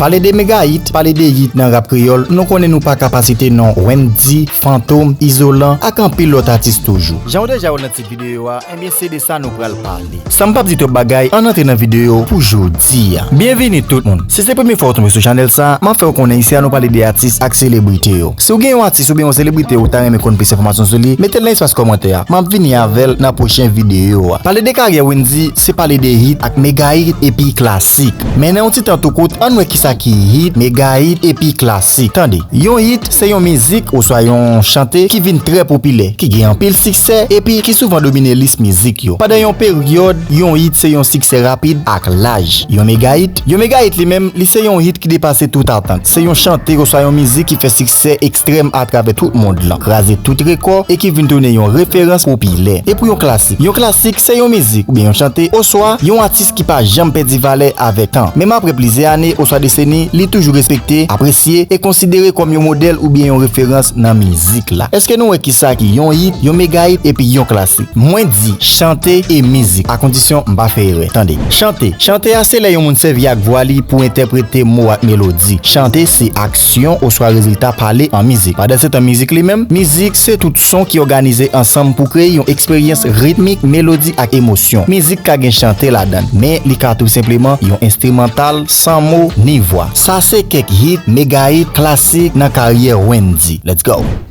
Pale de mega hit, pale de hit nan rap kreyòl, nou konnen nou paka pa site non Wendy, Fantom, Izolan ak anpil lòt atis toujou. Jan ou deja wèl nan tit videyo a, enbyen se de sa nou pral pale. San m pap di twòp bagay, ann antre nan videyo pou jodi a. Byenvini tout moun! Si se premye fwa ou tonbe sou chanèl sa, map fè ou konnen isi a nou pale de atis ak selebrite yo. Si ou gen yon atis oubyen yon selebrite ou ta renmen konn plis enfòmasyon sou li, metel nan espas kòmantè a, map vini avèl nan pwochen videyo a. Pale de karyè Wendy, se pale de hit ak mega hit epi klasik. Sik. Men nan yon ti tan tou kout, ann wè kisa ki hit, mega hit epi klasik. Tande. Yon hit se yon mizik oswa yon chante ki vin trè popilè, ki gen anpil siksè epi ki souvan domine lis mizik yo. Pandan yon peryòd, yon hit se yon siksè rapid ak laj. Yon mega hit. Yon mega hit li menm, li se yon hit ki depase tout atant. Se yon chante oswa yon mizik ki fè siksè. Sè ekstrèm atravè tout mond lan, kraze tout rekò e ki vin tounen yon referans popilè. E pou yon klasik? Yon klasik se yon mizik oubyen yon chante oswa yon atis ki pa janm pèdi valè avèk tan. Menm apre plizyè ane oswa deseni, li toujou respekte, apresye e konsidere kòm yon modèl oubyen yon referans nan mizik la. Eske nou wè ki sa ki yon hit, yon megahit epi yon klasik? Mwen di, chante e mizik, akondisyon m pa fè erè. Tande. Chante. Chante a se lè yon moun sèvi ak vwa li pou entèprete mo ak melodi. Chante se. syon oswa rezilta pale an mizik. Pandansetan mizik li menm, mizik se tout son ki òganize ansanm pou kreye yon eksperyans ritmik, melodi ak emosyon. Mizik ka gen chante ladan l, men li ka tou senpleman yon enstrimantal san mo ni vwa. Sa se kèk hit, mega hit, klasik nan karyè Wendyy. Let's go!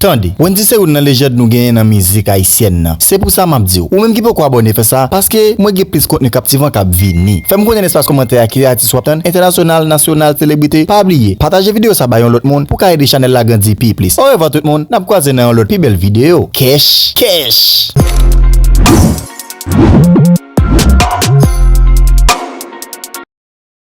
Tande, Wendy se youn nan lejand nou genyen nan mizik ayisyèn nan. Se pou sa map diw, ou menm ki poko abòne fè sa, paske mwen gen plis kontni kaptivan kap vini. Fèm konnen nan espas kòmantè a ki atis wap tann, entènasyonal, nasyonal, selebrite, pa bliye pataje video sa bay yon lòt moun pou ka ede chanèl la grandi pi plis. Orevwa tout moun, nap kwaze nan yon lòt pi bèl video. Kèch! Kèch!